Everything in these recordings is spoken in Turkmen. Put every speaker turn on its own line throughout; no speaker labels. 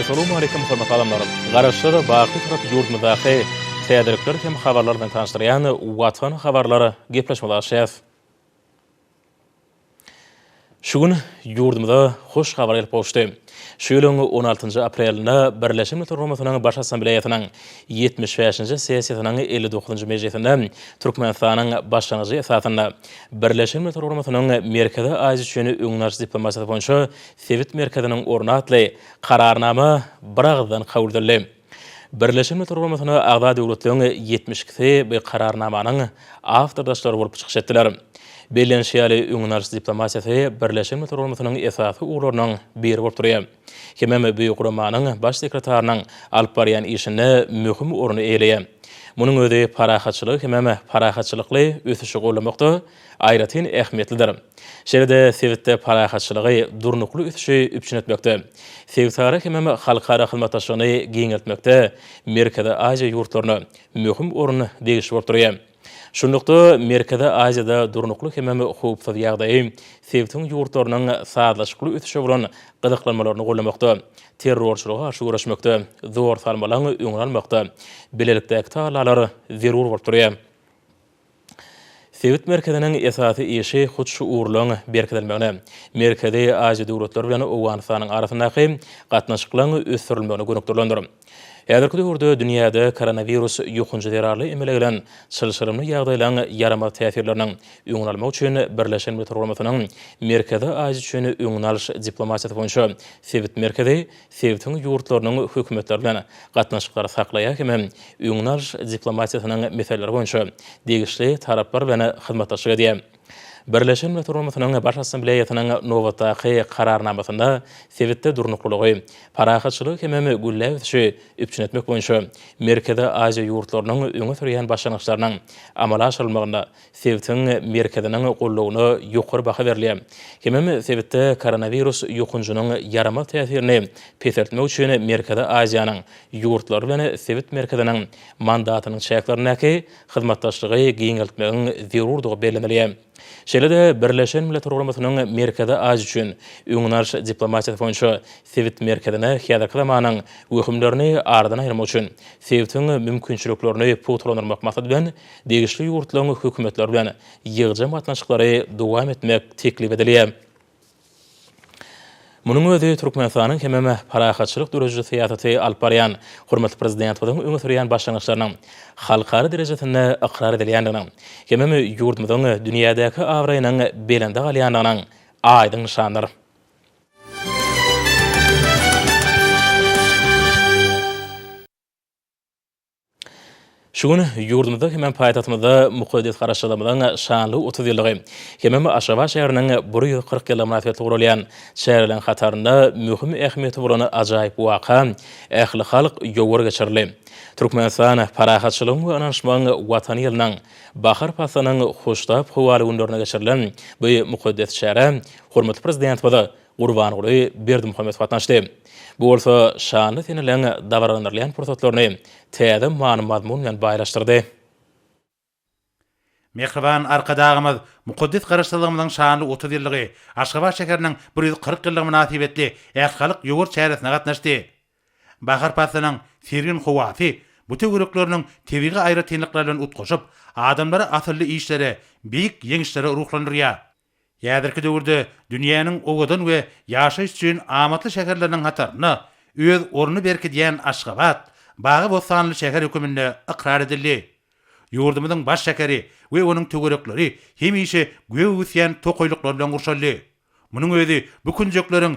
Essalawmaleýkim hormatly adamlar! Garaşsyz, baky Türk ýurdumyzdaky täzelikler hem habarlar bilen tanyşdyrýan Watan habarlar gepleşmesi açýas. Şu gün ýurdumyza hoş habar gelip gowuşdy. Şu ýylyň on altynjy aprelinde Birleşen Milletler Guramasynyň Baş Assambleýasynyň ýetmiş bäşinji sessiýasynyň elli dokuzynjy mejlisinde Türkmenistanyň başlangyjy esasynda Birleşen Milletler Guramasynyň Merkezi Aziýa üçin öňdebaryjy diplomatiýasy boýunça Sebit merkeziniň orny atly Kararnama biragyzdan kabul edildi. Birleşen Guramasyna agza döwletleriň ýetmiş ikisi bu Kararnamanyň awtordaşlary bolup çykyş etdiler. Bellenişi ýaly, öňüni alyş diplomatiýasy Birleşen Guramasynyň esasy ugurlarynyň biri bolup durýar hemem bu guramanyň Baş sekretarynyň alyp barýan işinde möhüm orny eýeleýär. Munuň özi parahatçylygy hemem parahatçylykly ösüşi gollamakda aýratyn ähmiýetlidir. Şeýle-de sebitde parahatçylygy, durnukly ösüşi üpjün etmekde, sebitara hemem halkara hyzmatdaşlygyny giňeltmekde Merkezi Aziýa ýurtlaryna möhüm orun degişli bolup durýar. Şunlukda, Merkezi Aziýada durnukly hemem howpsuz ýagdaýy sebitiň ýurtlarynyň sazlaşykly ösüşe bolan gyzyklanmalaryny goldamakda, terrorçylyga garşy göreşmekde, zor salmalaň öňüni almakda bilelikdäki tagallalar zerur bolup durýar. Sebit merkeziniň esasy işi hut şu ugurlaryň berkidilmegine, Merkezi Aziýa döwletleri bilen Owganystanyň arasyndaky gatnaşyklaryň ösdürilmegine gönükdirilendir. Häzirki döwürde dünýäde koronawirus ýokanjy zerarly emele gelen çylşyrymly ýagdaýlaryň ýaramaz täsirleriniň öňüni almak üçin Birleşen Milletler Guramasynyň Merkezi Aziýa üçin öňüni alyş diplomatiýasy boýunça sebit merkezi sebitiň ýurtlarynyň hökümetleri bilen gatnaşyklary saklaýar hem-de öňüni alyş diplomatiýasynyň meseleleri boýunça degişli taraplar bilen hyzmatdaşlyk edýär. Birleşen Milletler Guramasynyň Baş Assambleýasynyň nobatdaky Kararnamasynda sebitde durnuklylygy, parahatçylygy hem-de gülläp ösüşi üpjün etmek boýunça Merkezi Aziýa ýurtlarynyň öňe sürýän başlangyçlarynyň amala aşyrylmagynda sebitiň merkeziniň goldawyna ýokary baha berilýär. Hemem sebitde koronawirus ýokanjynyň ýaramaz täsirini peseltmek üçin Merkezi Aziýanyň ýurtlary bilen sebit merkeziniň mandatynyň çäklerindäki hyzmatdaşlygy giňeltmegiň zerurdygy bellenilýär. Şeýle-de Birleşen Milletler Guramasynyň Merkezi Aziýa üçin öňüni alyş diplomatiýasy boýunça sebit merkezine häzirki zamanyň wehimlerini aradan aýyrmak üçin sebitiň mümkinçiliklerini pugtalandyrmak maksady bilen degişli ýurtlaryň hökümetleri bilen ýygjam gatnaşyklary dowam etmek teklip edilýär. Munuň özi Türkmenistanyň hemem parahatçylyk dörediji syýasaty alyp barýan hormatly Prezidentimiziň öňe sürýän başlangyçlarynyň halkara derejesinde ykrar edilýändiginiň, hemem ýurdumyzyň dünýädäki abraýynyň belende galýandygynyň aýdyň nyşanydyr. Şu gün ýurdumyzda hemem paýtagtymyzda mukaddes Garaşsyzlygymyzyň şanly otuz ýyllygy, hemem Aşgabat şäheriniň bir ýüz kyrk ýyllygy mynasybetli guralýan çäreleriň hatarynda möhüm ähmiýeti bolan ajaýyp waka, ählihalk ýowar geçirildi. Türkmenistan parahatçylygyň we ynanyşmagyň Watany ýylynyň bahar paslynyň hoştap howaly günlerinde geçirilen bu mukaddes çärä hormatly Prezidentimiz Gurbanguly Berdimuhamedow gatnaşdy. Bu bolsa şanly seneleň dabaralandyrylýan pursatlaryny täze many-mazmun bilen baýlaşdyrdy.
Mähriban Arkadagymyz mukaddes Garaşsyzlygymyzyň şanly otuz ýyllygy, Aşgabat şäheriniň bir ýüz kyrk ýyllygy mynasybetli ählihalk ýowar çäresine gatnaşdy. Bahar paslynyň sergin howasy bu töwerekleriniň tebigy aýratynlyklary bilen utgaşyp, adamlary asylly işlere, beýik ýeňişlere ruhlandyrýar. Häzirki döwürde dünýäniň owadan we ýaşaýyş üçin amatly şäherleriniň hatarynda öz ornuny berkidýän Aşgabat bagy-bossanly şäher höküminde ykrar edildi. Ýurdumyzyň baş şäheri we onuň töwerekleri hemişe gök ösýän tokaýlyklar bilen gurşaldy. Munuň özi bu künjekleriň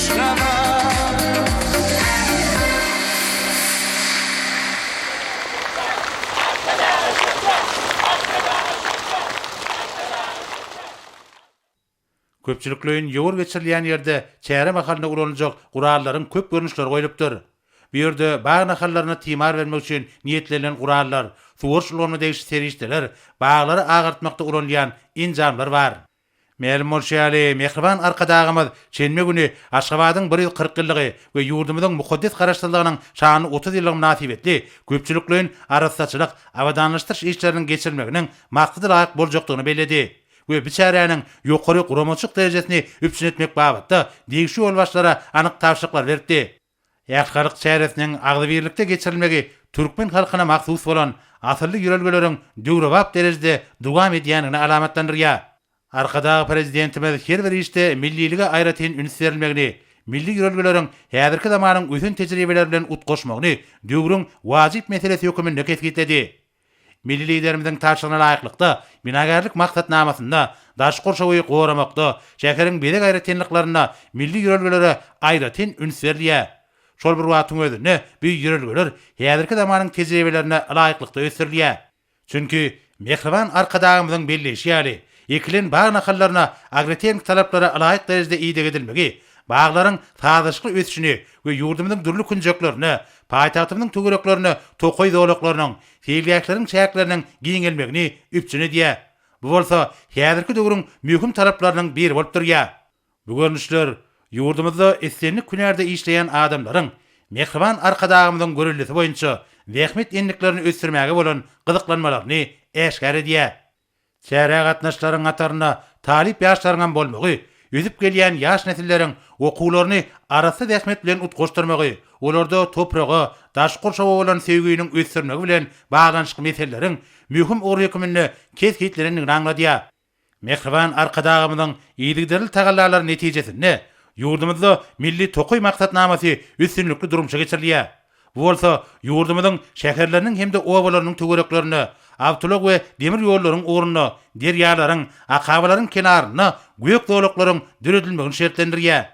Köpçülikleýin ýowar geçirilýän ýerde çäre mahalynda ulanyljak gurallaryň köp görnüşleri goýlupdyr. Bu ýerde bag nahallaryna timar bermek üçin niýetlenilen gurallar, suwaryş ulgamyna degişli serişdeler, baglary agartmakda ulanylýan enjamlar bar. Mälim bolşy ýaly, mähriban Arkadagymyz şenbe güni Aşgabadyň bir ýüz kyrk ýyllygy we ýurdumyzyň mukaddes Garaşsyzlygynyň şanly otuz ýyllygy mynasybetli köpçülikleýin arassaçylyk, abadanlaşdyryş işleriniň geçirilmeginiň maksada-laýyk boljakdygyny belledi we bu çäräniň ýokary guramaçylyk derejesini üpjün etmek babatda degişli ýolbaşçylara anyk tabşyryklar beripdi. Ýagşgalyk çäresiniň agzybirlikde geçirilmegi türkmen halkyna mahsus bolan asylly ýörelgeleriň döwrebap derejede dowam edýändigini alamatlandyrýar. Arkadag Prezidentimiz her bir işde millilige aýratyn üns berilmegini, milli ýörelgeleriň häzirki zamanyň ösen tejribeleri bilen utgaşmagyny döwrüň wajyp meselesi höküminde kesgitledi. Milli Liderimiziň tabşyrygyna laýyklykda, binagärlik maksatnamasynda daş gurşawy goramakda, şäheriň bezeg aýratynlyklaryna, milli ýörelgelere aýratyn üns berilýär. Şol bir wagtyň özünde bu ýörelgeler häzirki zamanyň tejribelerine laýyklykda ösdürilýär. Çünki, mähriban Arkadagymyzyň belleýşi ýaly, ekilen bag nahallaryna agrotehniki talaplara laýyk derejede ideg edilmegi baglaryň sazlaşykly ösüşini we ýurdumyzyň dürli künjeklerine Paýtagtymyzyň töwereklerine tokaý zolaklarynyň, seýilgähleriň çäkleriniň giňelmegini üpjün edýär. Bu bolsa häzirki döwrüň möhüm talaplarynyň biri bolup durýar. Bu görnüşler ýurdumyzda islendik hünärde işleýän adamlaryň mähriban Arkadagymyzyň görellisi boýunça zähmet endiklerini ösdürmäge bolan gyzyklanmalaryny äşgär edýär. Çärä gatnaşyjylaryň hatarynda talyp ýaşlaryňam bolmagy, ösüp gelýän ýaş nesilleriň okuwlaryny arassa zähmet bilen utgaşdyrmagy, olarda topraga, daş gurşawa bolan söýginiň ösdürilmegi bilen baglanyşykly meseleleriň möhüm ugry höküminde kesgitlenendigini aňladýar. Mähriban Arkadagymyzyň yzygiderli tagallalary netijesinde ýurdumyzda Milli tokaý maksatnamasy üstünlikli durmuşa geçirilýär. Bu bolsa ýurdumyzyň şäherleriniň hem-de obalarynyň töwereklerinde, awtoulag we demir ýollaryň ugrunda, derýalaryň, akabalaryň kenarynda gök zolaklaryň döredilmegini şertlendirýär.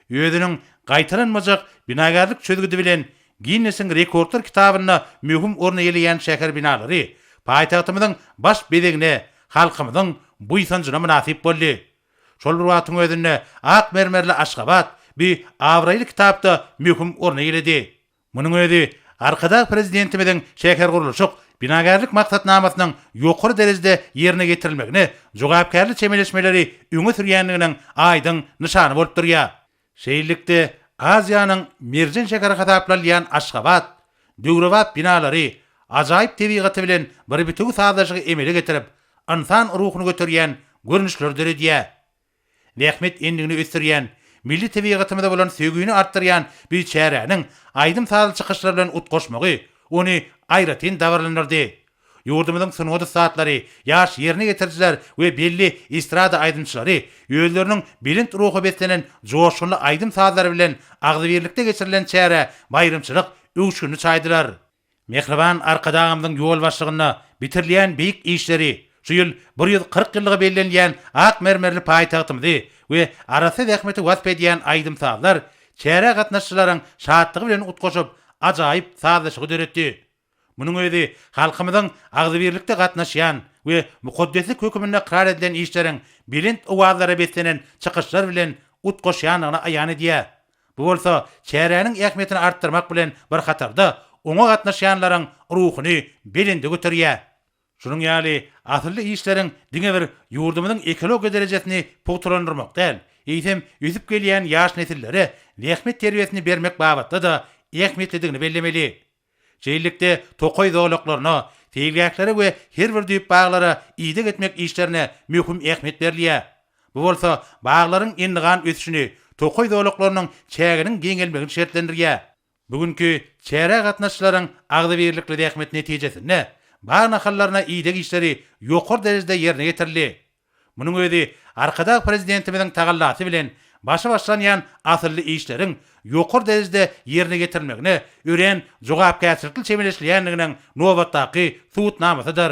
Özüniň gaýtalanmajak binagärlik çözgüdi bilen Ginnesiň rekordlar kitabynda möhüm orun eýeleýän şäher binalary paýtagtymyzyň baş bezegine, halkymyzyň buýsanjyna mynasyp boldy. Şol bir wagtyň özünde ak mermerli Aşgabat bu abraýly kitapda möhüm orun eýeledi. Munuň özi Arkadag Prezidentimiziň şähergurluşyk, binagärlik maksatnamasynyň ýokary derejede ýerine ýetirilmegine jogapkärli çemeleşmeleri öňe sürýändiginiň aýdyň nyşany bolup durýar. Şeýlelikde, Aziýanyň merjen şäheri hasaplanylýan Aşgabat, döwrebap binalary, ajaýyp tebigaty bilen bir bitewi sazlaşygy emele getirip, ynsan ruhuny göterýän görnüşleri döredýär. Zähmet endigini ösdürýän, milli tebigatymyza bolan söýgini artdyrýan bu çäräniň aýdym-sazly çykyşlar bilen utgaşmagy ony aýratyn dabaralandyrdy, Ýurdumyzyň sungat ussatlary, ýaş ýerine ýetirijiler we belli estrada aýdymçylary özleriniň belent ruha beslenen joşgunly aýdym-sazlary bilen agzybirlikde geçirilen çärä baýramçylyk öwüşginini çaýdylar. Mähriban Arkadagymyzyň ýolbaşçylygynda bitirilýän beýik işleri, şu ýyl bir ýüz kyrk ýyllygy bellenilýän ak mermerli paýtagtymyzy we arassa zähmeti wasp edýän aýdym-sazlar çärä gatnaşyjylaryň şatlygy bilen utgaşyp, ajaýyp sazlaşygy döretdi. Munuň özi halkymyzyň agzybirlikde gatnaşýan we mukaddeslik hökümini ykrar edilen işleriň belent owazlara beslenen çykyşlar bilen utgaşýandygyny aýan edýär. Bu bolsa çäräniň ähmiýetini artdyrmak bilen bir hatarda, oňa gatnaşýanlaryň ruhuny belende göterýär. Şunuň ýaly asylly işleriň diňe bir ýurdumyzyň ekologiýa derejesini pugtalandyrmak däl, eýsem, ösüp gelýän ýaş nesillere zähmet terbiýesini bermek babatda-da ähmiýetlidigini bellemeli. Şeýlelikde, tokaý zolaklaryna, seýilgählere we her bir düýp baglara ideg etmek işlerine möhüm ähmiýet berilýär. Bu bolsa baglaryň endigan ösüşini, tokaý zolaklarynyň çäginiň giňelmegini şertlendirýär. Bu günki çärä gatnaşyjylaryň agzybirlikli zähmeti netijesinde bag nahallaryna ideg işleri ýokary derejede ýerine ýetirildi. Munuň özi Arkadag Prezidentimiziň tagallasy bilen başy başlanýan asylly işleriň ýokary derejede ýerine ýetirilmegine örän jogapkärçilikli çemeleşilýändiginiň nobatdaky subutnamasydyr.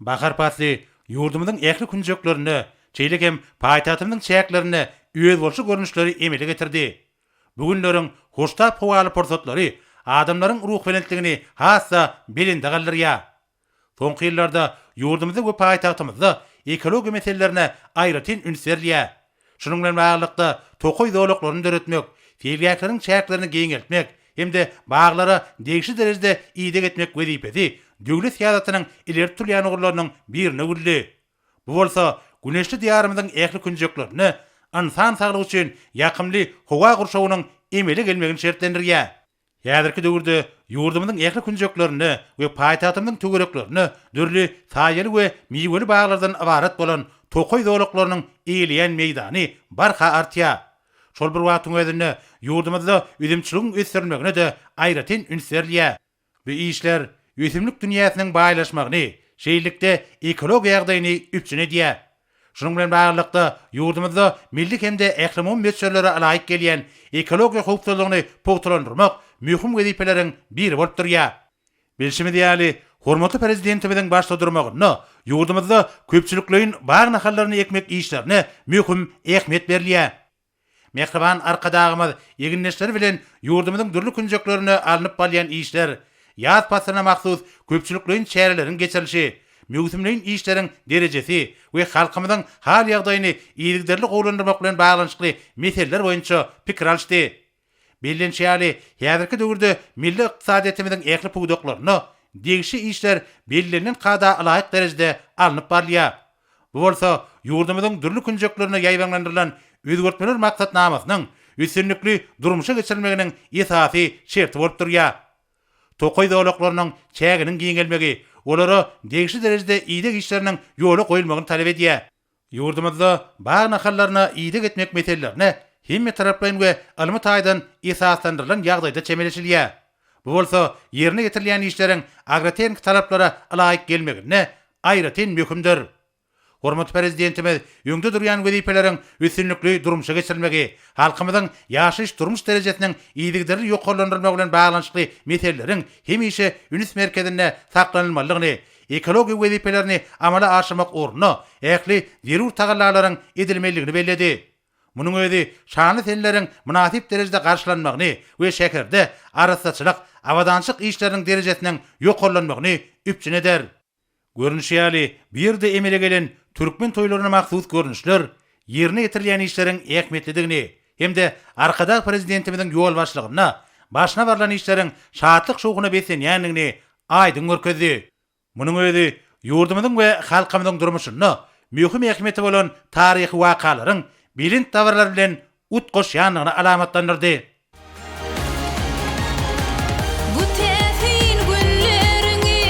Bahar pasly ýurdumyzyň ähli künjeklerinde, şeýle hem paýtagtymyzyň çäklerinde özboluşly görnüşleri emele getirdi. Bu günleriň hoştap howaly pursatlary adamlaryň ruhubelentligini has-da belende galdyrýar. Soňky ýyllarda ýurdumyzda we paýtagtymyzda ekologiýa meselelerine aýratyn üns berilýär. Şunuň bilen baglylykda, tokaý zolaklaryny döretmek, seýilgähleriň çäklerini giňeltmek hem-de baglara degişli derejede ideg etmek wezipesi döwlet syýasatynyň ileri tutulýan ugurlarynyň birine öwrüldi. Bu bolsa güneşli Diýarymyzyň ähli künjeklerinde ynsan saglygy üçin ýakymly howa gurşawynyň emele gelmegini şertlendirýär. Häzirki döwürde ýurdumyzyň ähli künjeklerinde we paýtagtymyzyň töwereklerinde dürli saýaly we miweli baglardan ybarat bolan tokaý zolaklarynyň eýeleýän meýdany barha artýar. Şol bir wagtyň özünde ýurdumyzda üzümçiligiň ösdürilmegine-de aýratyn üns berilýär. Bu işler ösümlik dünýäsiniň baýlaşmagyny, şeýlelikde ekologiýa ýagdaýyny üpjün edýär. Şunuň bilen baglylykda, ýurdumyzda milli hem-de ählumumy möçberlere laýyk gelýän ekologiýa howpsuzlygyny pugtalandyrmak möhüm wezipeleriň biri bolup durýar. Bilşimiz ýaly, hormatly Prezidentimiziň başda durmagynda ýurdumyzda köpçülikleýin bag nahallaryny ekmek işlerine möhüm ähmiýet berilýär. Mähriban Arkadagymyz egindeşleri bilen ýurdumyzyň dürli künjeklerinde alnyp barylýan işler, ýaz paslyna mahsus köpçülikleýin çäreleriň geçirilişi, möwsümleýin işleriň derejesi we halkymyzyň hal-ýagdaýyny yzygiderli gowulandyrmak bilen baglanyşykly meseleler boýunça pikir alyşdy. Bellenişi ýaly, häzirki döwürde milli ykdysadyýetimiziň ähli pudaklarynda degişli işler bellenilen kada laýyk derejede alnyp barylýar. Bu bolsa ýurdumyzyň dürli künjeklerinde ýaýbaňlandyrylan Özgertmeler maksatnamasynyň üstünlikli durmuşa geçirilmeginiň esasy şerti bolup durýar. Tokaý zolaklarynyň çäginiň giňelmegi, olara degişli derejede ideg işleriniň ýola goýulmagyny talap edýär. Ýurdumyzda bag nahallaryna ideg etmek meselelerine hemmetaraplaýyn we ylmy taýdan esaslandyrylan ýagdaýda çemeleşilýär. Bu bolsa ýerine ýetirilýän işleriň agrotehniki talaplara ylaýyk gelmeginde aýratyn möhümdir. Hormatly Prezidentimiz öňde durýan wezipeleriň üstünlikli durmuşa geçirilmegi, halkymyzyň ýaşaýyş-durmuş derejesiniň yzygiderli ýokarlandyrylmagy bilen baglanyşykly meseleleriň hemişe üns merkezinde saklanylmalydygyny ekologiýa wezipelerini amala aşyrmak ugrunda ähli zerur tagallalaryň edilmelidigini belledi. Munuň özi şanly seneleriň mynasyp derejede garşylanmagyny we şäherde arassaçylyk, abadançylyk işleriniň derejesiniň ýokarlanmagyny üpjün eder. Görnüşi ýaly, bu ýerde emele gelen türkmen toýlaryna mahsus görnüşler ýerine ýetirilýän işleriň ähmiýetlidigini hem-de Arkadag Prezidentimiziň ýolbaşçylygynda başyna barlan işleriň şatlyk-şowhuna beslenýändigini aýdyň görkezdi. Munuň özi ýurdumyzyň we halkymyzyň durmuşynda möhüm ähmiýeti bolan taryhy wakalaryň belent dabaralar bilen utgaşýandygyny alamatlandyrdy. Bu täsin günleriňi,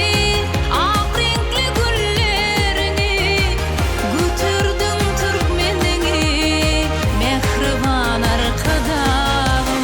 ak reňkli gülleriňi, Göterdiň türkmeniňi, mähriban Arkadagym.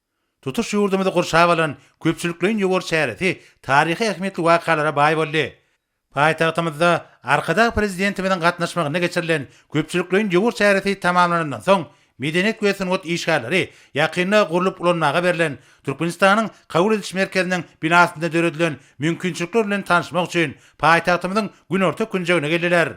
Tutuş ýurdumyzy gurşap alan köpçülikleýin ýowar çäresi taryhy ähmiýetli wakalara baý boldy. Paýtagtymyzda Arkadag Prezidentimiziň gatnaşmagynda geçirilen köpçülikleýin ýowar çäresi tamamlanandan soň, medeniýet we sungat işgärleri ýakynda gurlup ulanmaga berlen Türkmenistanyň kabul ediş merkeziniň binasynda döredilen mümkinçilikler bilen tanyşmak üçin paýtagtymyzyň günorta künjegine geldiler.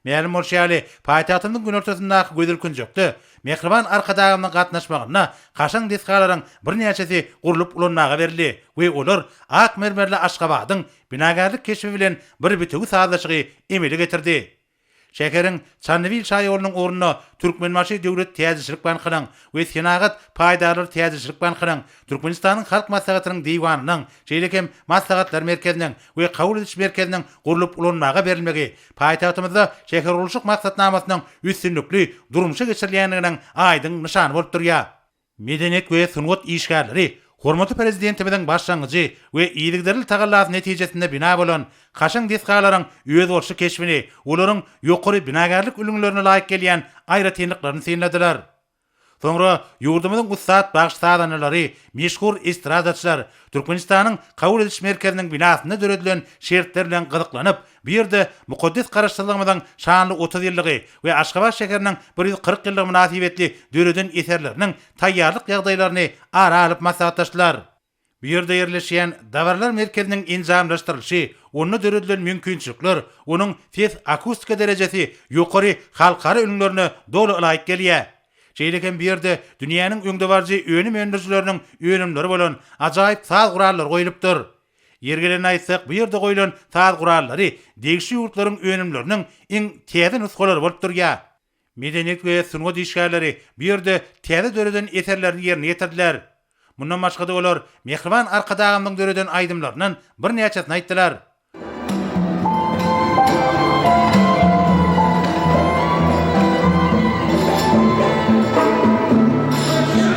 Mälim bolşy ýaly, paýtagtymyzyň günortasyndaky Gözülkünjekde Mähriban Arkadagymyzyň gatnaşmagynda kaşaň desgalaryň birnäçesi gurlup ulanmaga berildi we olar ak mermerli Aşgabadyň binagärlik keşbi bilen bir bitewi sazlaşygy emele getirdi. Şäheriň Çandybil şaýolunyň ugrunda Türkmenbaşy döwlet täjirçilik bankynyň we Senagat paýdarlar täjirçilik bankynyň Türkmenistanyň Halk Maslahatynyň Diwanynyň, şeýle hem Maslahatlar merkeziniň we Kabul ediş merkeziniň gurlup ulanmaga berilmegi paýtagtymyzda şähergurluşyk maksatnamasynyň üstünlikli durmuşa geçirilýändiginiň aýdyň nyşany bolup durýar. Medeniýet we sungat işgärleri hormatly Prezidentimiziň başlangyjy we yzygiderli tagallasy netijesinde bina bolan kaşaň desgalaryň özboluşly keşbini, olaryň ýokary binagärlik ülňülerine laýyk gelýän aýratynlyklaryny synladylar. Soňra ýurdumyzyň ussat bagşy-sazandalary, meşhur estradaçylar Türkmenistanyň Kabul ediş merkeziniň binasynda döredilen şertler bilen gyzyklanyp, bu ýerde mukaddes Garaşsyzlygymyzyň şanly otuz ýyllygy we Aşgabat şäheriniň bir ýüz kyrk ýyllygy mynasybetli döreden eserleriniň taýýarlyk ýagdaýlaryny ara alyp maslahatlaşdylar. Bu ýerde ýerleşýän Dabarlar merkeziniň enjamlaşdyrylyşy, onda döredilen mümkinçilikler, onuň ses-akustika derejesi ýokary halkara ülňülerine doly ylaýyk gelýär. Şeýle hem bu ýerde dünýäniň öňdebaryjy önüm öndürijileriniň önümleri bolan ajaýyp saz gurallary goýlupdyr. Ýeri gelende aýtsak, bu ýerde goýlan saz gurallary degişli ýurtlaryň önümleriniň iň täze nusgalary bolup durýar. medeniýet we sungat işgärleri bu ýerde täze döreden eserlerini ýerine ýetirdiler. Mundan başga-da olar mähriban Arkadagymyzyň döreden aýdymlaryndan birnäçesini aýtdylar.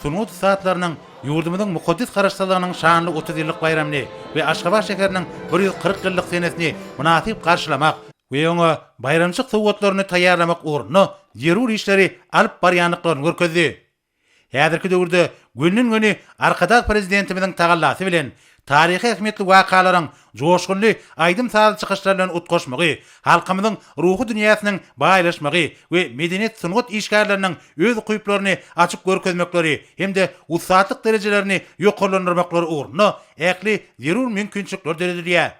Sungat ussatlarynyň ýurdumyzyň mukaddes Garaşsyzlygynyň şanly otuz ýyllyk baýramyny we Aşgabat şäheriniň bir ýüz kyrk ýyllyk senesini mynasyp garşylamak we oňa baýramçylyk sowgatlaryny taýýarlamak ugrunda zerur işleri alyp barýandyklaryny görkezdi. Häzirki döwürde gönden-göni Arkadag Prezidentimiziň tagallasy bilen Taryhy ähmiýetli wakalaryň joşgunly aýdym-sazly çykyşlar bilen utgaşmagy, halkymyzyň ruhy dünýäsiniň baýlaşmagy we medeniýet-sungat işgärleriniň öz ukyplaryny açyp görkezmekleri hem-de ussatlyk derejelerini ýokarlandyrmaklary ugrunda ähli zerur mümkinçilikler döredilýär.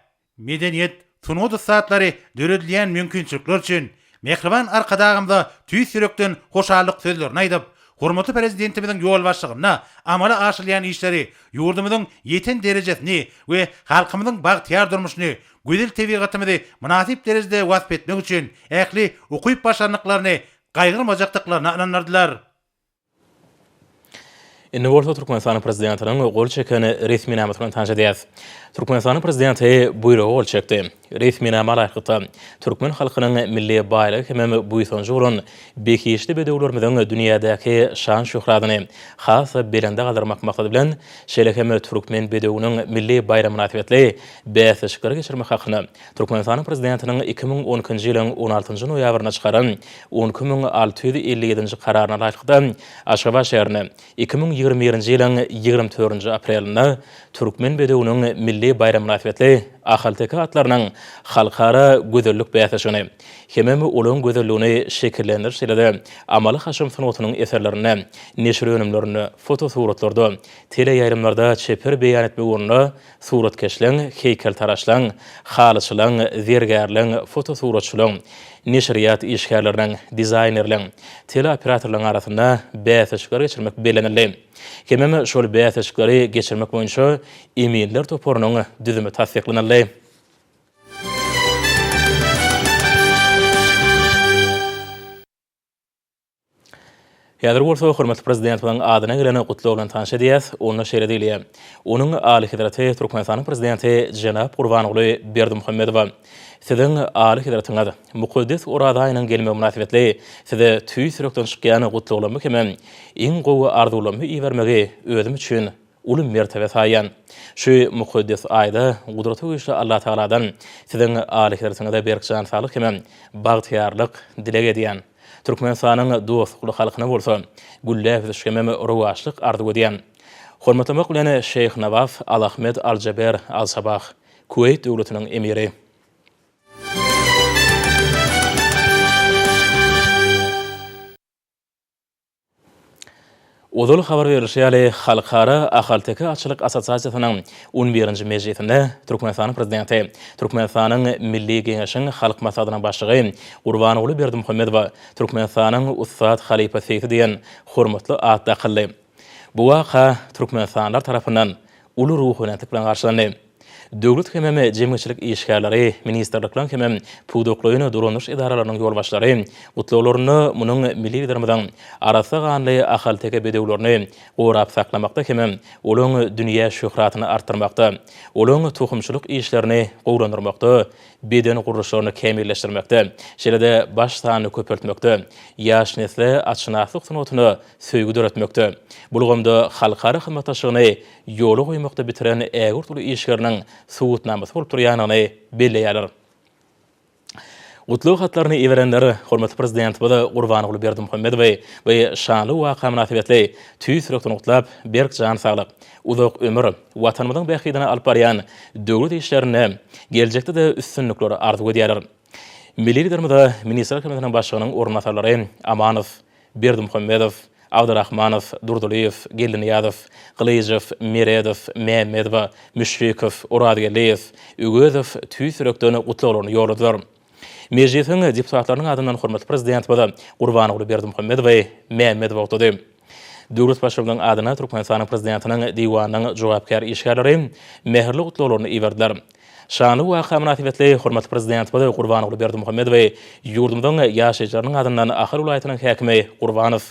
Medeniýet, sungat ussatlary döredilýän mümkinçilikler üçin mähriban Arkadagymyza tüýs ýürekden hoşallyk sözlerini aýdyp, hormatly Prezidentimiziň ýolbaşçylygynda amala aşyrylýan işleri ýurdumyzyň ýeten derejesini we halkymyzyň bagtyýar durmuşyny, gözel tebigatymyzy mynasyp derejede wasp etmek üçin ähli ukyp-başarnyklaryny gaýgyrmajakdyklaryna ynandyrdylar.
Indi bolsa Türkmenistanyň prezidentiniň gol çeken resminamasy bilen tanyş edýäs. Türkmenistanyň prezidenti buýruga gol çekdi. Resminama laýyklykda, türkmen halkynyň milli baýlygy hemem buýsanjy bolan behişdi bedewlerimiziň dünýädäki şan-şöhratyny has-da belende galdyrmak maksady bilen, şeýle hem Türkmen bedewiniň milli baýramy mynasybetli bäsleşikleri geçirmek hakynda Türkmenistanyň Prezidentiniň iki müň on ikinji ýylyň on altynjy noýabrynda çykaran on iki müň alty ýüz elli ýedinji Kararyna laýyklykda, Aşgabat şäherine iki müň ýigrimi birinji ýylyň ýigrimi dördünji aprelinde Türkmen bedewiniň milli baýramy mynasybetli ahalteke atlarynyň halkara gözellik bäsleşigini hemem olaryň gözelligini şekillendiriş şeýle-de amaly-haşam sungatynyň eserlerinde, neşir önümlerinde, fotosuratlarda, teleýaýlymlarda çeper beýan etmek ugrunda Suratkeşligiň, heýkeltaraşlygyň, halyçylygyň, zergärligiň, fotosuratçylygyň, neşirýat işgärleriniň, dizaýnerligiň, teleoperatorlygyň arasynda bäsleşikleri geçirmek bellenildi. Hemem şol bäsleşikleri geçirmek boýunça eminler toparynyň düzümi tassyklanyldy. Häzir bolsa hormatly Prezidentimiziň adyna gelen Gutlag bilen tanyş edýäs. Onda şeýle diýilýär, Onuň Alyhezreti Türkmenistanyň Prezidenti jenap Gurbanguly Berdimuhamedowa Siziň Alyhezretiňiz mukaddes Oraza aýynyň gelmegi mynasybetli Size tüýs ýürekden çykýan gutlaglarymy hem-ä iň gowy arzuwlarymy ibermegi özüm üçin uly mertebe saýýan şu mukaddes aýda Gudratygüýçli Allatagaladan Siziň Alyhezretiňize berk jan saglyk hem-ä bagtyýarlyk dileg edýän. Türkmenistanyň dostlukly halkyna bolsa gülläp ösüş hem-ä rowaçlyk arzuw edýän. Hormatlamak bilen Şeýh Nawaf Alahmed Aljaber Alsabah, Kuweýt Döwletiniň Emiri. Ozal habar berlişi ýaly, Halkara ahalteke atçylyk assosiasiýasynyň on birinji mejlisinde Türkmenistanyň Prezidenti, Türkmenistanyň Milli Geňeşiň Halk Maslahatynyň Başlygy Gurbanguly Berdimuhamedowa Türkmenistanyň ussat halypasysi diýen hormatly at dakyldy. Bu waka türkmenistanlylar tarapyndan uly ruhubelentlik bilen garşylandy. Döwlet hemem jemgyýetçilik işgärleri, ministrlikleriň hemem pudaklaýyn dolanyş edaralarynyň ýolbaşçylary gutlaglarynda munuň milli Liderimiziň arassa ganly ahalteke bedewlerini gorap saklamakda hemem olaryň dünýä şöhratyny artdyrmakda, olaryň tohumçylyk işlerini gowulandyrmakda, beden gurluşlaryny kämilleşdirmekde, şeýle-de baş sanyny köpeltmekde, ýaş nesle atşynaslyk sungatyny söýgi döretmekde, bu ulgamda halkara hyzmatdaşlygyny ýola goýmakda bitiren ägirt uly işleriniň subutnamasy bolup durýandygyny belleýärler. Gutlag hatlaryny iberenler hormatly Prezidentimiz Gurbanguly Berdimuhamedowy bu şanly waka mynasybetli tüýs ýürekden gutlap, berk jan saglyk, uzak ömür, Watanymyzyň bähbidine alyp barýan döwlet işlerinde geljekde-de üstünlikler arzuw edýärler. Milli Liderimize Ministrler Kabinetiniň Başlygynyň orunbasarlary Amanow, Berdimuhamedow, Abdyrahmanow, Durdylyýew, Geldinyýazow, Gylyjow, Meredow, Mämmedowa, Müşfikow, Orazgeldiýew, Öwezow tüýs ýürekden gutlaglaryny ýolladylar. Mejlisiň deputatlarynyň adyndan hormatly Prezidentimiz Gurbanguly Berdimuhamedowy Mämmedow gutlady. Döwlet Baştutanynyň adyna Türkmenistanyň Prezidentiniň Diwanynyň jogapkär işgärleri mähirli gutlaglaryny iberdiler. Şanly waka mynasybetli hormatly Prezidentimiz Gurbanguly Berdimuhamedowy ýurdumyzyň ýaşaýjylarynyň adyndan Ahal welaýatynyň häkimi Gurbanow,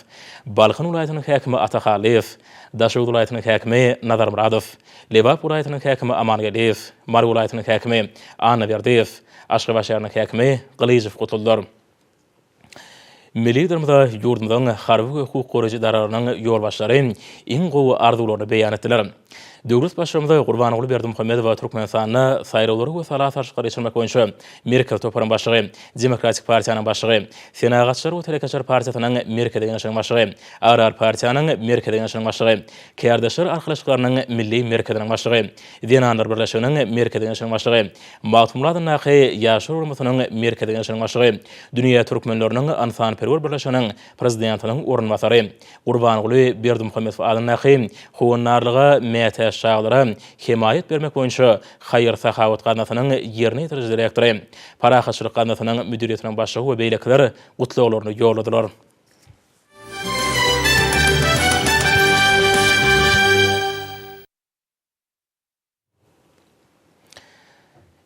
Balkan welaýatynyň häkimi Atahallyýew, Daşoguz welaýatynyň häkimi Nazarmyradow, Lebap welaýatynyň häkimi Amangeldiýew, Mary welaýatynyň häkimi Annaberdiýew, Aşgabat şäheriniň häkimi Gylyjow gutladylar. Milli Liderimize ýurdumyzyň harby we hukuk goraýjy edaralarynyň ýolbaşçylary iň gowy arzuwlaryny beýan etdiler. Döwlet Baştutanymy Gurbanguly Berdimuhamedowa Türkmenistanda Saýlawlary we sala salşyklary geçirmek boýunça Merkezi toparyň başlygy, Demokratik partiýanyň başlygy, Senagatçylar we telekeçiler partiýasynyň Merkezi Geňeşiniň başlygy, Agrar partiýanyň Merkezi Geňeşiniň başlygy, Kärdeşler arkalaşyklarynyň Milli merkeziniň başlygy, Zenanlar birleşiginiň Merkezi Geňeşiniň başlygy, Magtymguly adyndaky Ýaşlar guramasynyň Merkezi Geňeşiniň başlygy, Dünýä türkmenleriniň ynsanperwer birleşiginiň prezidentiniň orunbasary, Gurbanguly Berdimuhamedow adyndaky Howandarlyga mätäç çagalara hemaýat bermek boýunça haýyr-sahawat gaznasynyň ýerine ýetiriji direktory, Parahatçylyk gaznasynyň müdiriýetiniň başlygy we beýlekiler gutlaglaryny ýolladylar.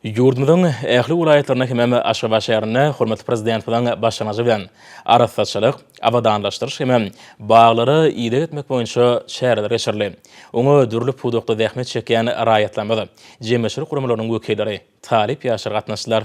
Ýurdumyzyň ähli welaýatlarynda hemem Aşgabat şäherinde hormatly Prezidentimiziň başlangyjy bilen arassaçylyk, abadanlaşdyryş hemem baglara ideg etmek boýunça çäreler geçirildi. Oňa dürli pudakda zähmet çekýän raýatlarymyz, jemgyýetçilik guramalarynyň wekilleri, talyp ýaşlar gatnaşdylar.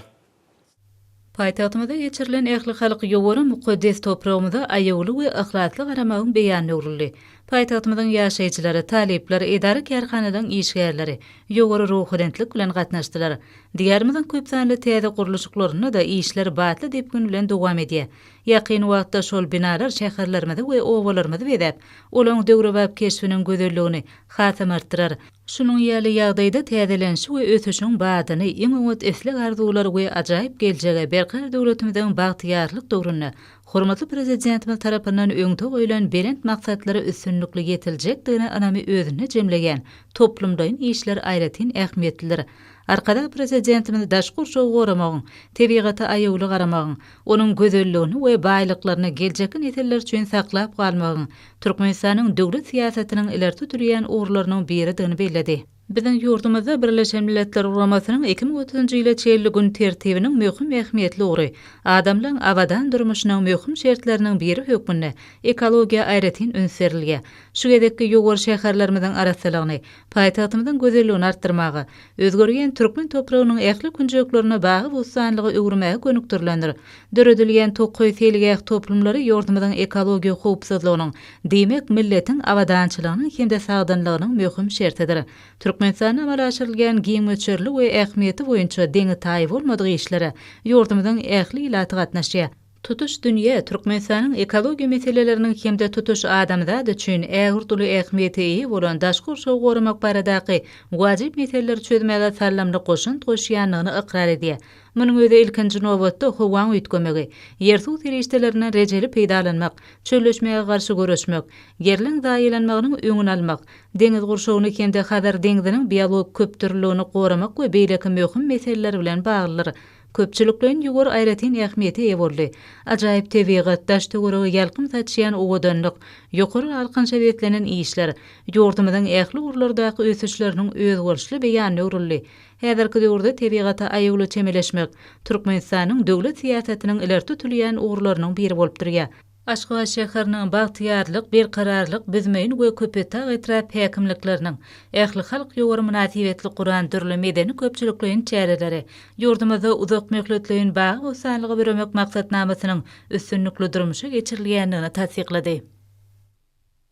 Paýtagtymyzda geçirilen ählihalk ýowara mukaddes topragymyza aýawly we yhlasly garamagyň beýanyny öwrüldi. Paýtagtymyzyň ýaşaýjylary, talyplar, edara-kärhanalaryň işgärleri ýowary ruhubelentlik bilen gatnaşdylar. Diýarymyzyň köp sanly täze gurluşyklarynda-da işler batly depgin bilen dowam edýär. Ýakyn wagtda şol binalar şäherlerimizi we obalarymyzy bezäp, olaryň döwrebap keşbiniň gözelligini hasam artdyrar. Şunuň ýaly ýagdaýda täzelenişi we ösüşiň badyny, iň oňat isleg-arzuwlary we ajaýyp geljege berkarar döwletimiziň bagtyýarlyk döwründe hormatly Prezidentimiz tarapyndan öňde goýlan belent maksatlara üstünlikli ýetiljekdigine ynamy özünde jemleýän toplumlaýyn işler aýratyn ähmiýetlidir. Arkadag Prezidentimiz daş gurşawy goramagyň, tebigata aýawly garamagyň, onuň gözelligini we baýlyklaryny geljekki nesiller üçin saklap galmagyň Türkmenistanyň döwlet syýasatynyň ileri tutulýan ugurlarynyň biridigini belledi. Biziň ýurdumyzda Birleşen Milletler Guramasynyň iki müň otuzynjy ýyla çenli gün tertibiniň möhüm ähmiýetli ugry, adamlaryň abadan durmuşynyň möhüm şertleriniň biri hökmünde ekologiýa aýratyn üns berilýär. Şu gezekki ýowar şäherlerimiziň arassalygyny, Paýtagtymyzyň gözelligini artdyrmaga, özgerýän türkmen topragynyň ähli künjeklerini bagy-bossanlyga öwürmäge gönükdirilendir. Döredilýän tokaý seýilgäh toplumlary ýurdumyzyň ekologiýa howpsuzlygynyň, diýmek, milletiň abadançylygynyň hem-de sagdynlygynyň möhüm şertidir. Türkmenistanda amala aşyrylýan giň möçberli we ähmiýeti boýunça deňi-taýy bolmadyk işlere ýurdumyzyň ähli ilaty gatnaşýar. Tutuş dünýä, Türkmenistanyň ekologiýa meseleleriniň hem-de tutuş adamzat üçin ägirt uly ähmiýete eýe bolan daşky gurşawy goramak baradaky wajyp meseleleri çözmäge saldamly goşant goşýandygyny ykrar edýär. Munuň özi ilkinji nobatda howaň üýtgemegi, ýer-suw serişdelerinden rejeli peýdalanmak, çölleşmäge garşy göreşmek, ýerleň zaýalanmagynyň öňüni almak, deňiz gurşawyny hem-de Hazar deňziniň biologik köpdürlüligini goramak we beýleki möhüm meseleler bilen baglydyr. Köpçülikleýin ýüwür aýratyn ähmiýete eýe boldy. Ajaýyp tebigat, daş-töwerege ýalkym saçýan owadanlyk, ýokary arkança beslenen işler, ýurdumyzyň ähli ugurlardaky ösüşleriniň özboluşly beýanyna öwrüldi. Häzirki döwürde tebigata aýawly çemeleşmek Türkmenistanyň döwlet syýasatynyň ileri tutulýan ugurlarynyň biri bolup durýar. Aşgabat şäheriniň Bagtyýarlyk, Berkararlyk, Büzmeýin we Köpetdag etrap häkimlikleriniň ählihalk ýowary mynasybetli guran dürli medeni-köpçülikleýin çäreleri ýurdumyzda uzakmöhletleýin bagy-bossanlygy büremek maksatnamasynyň üstünlikli durmuşa geçirilýändigini tassyklady.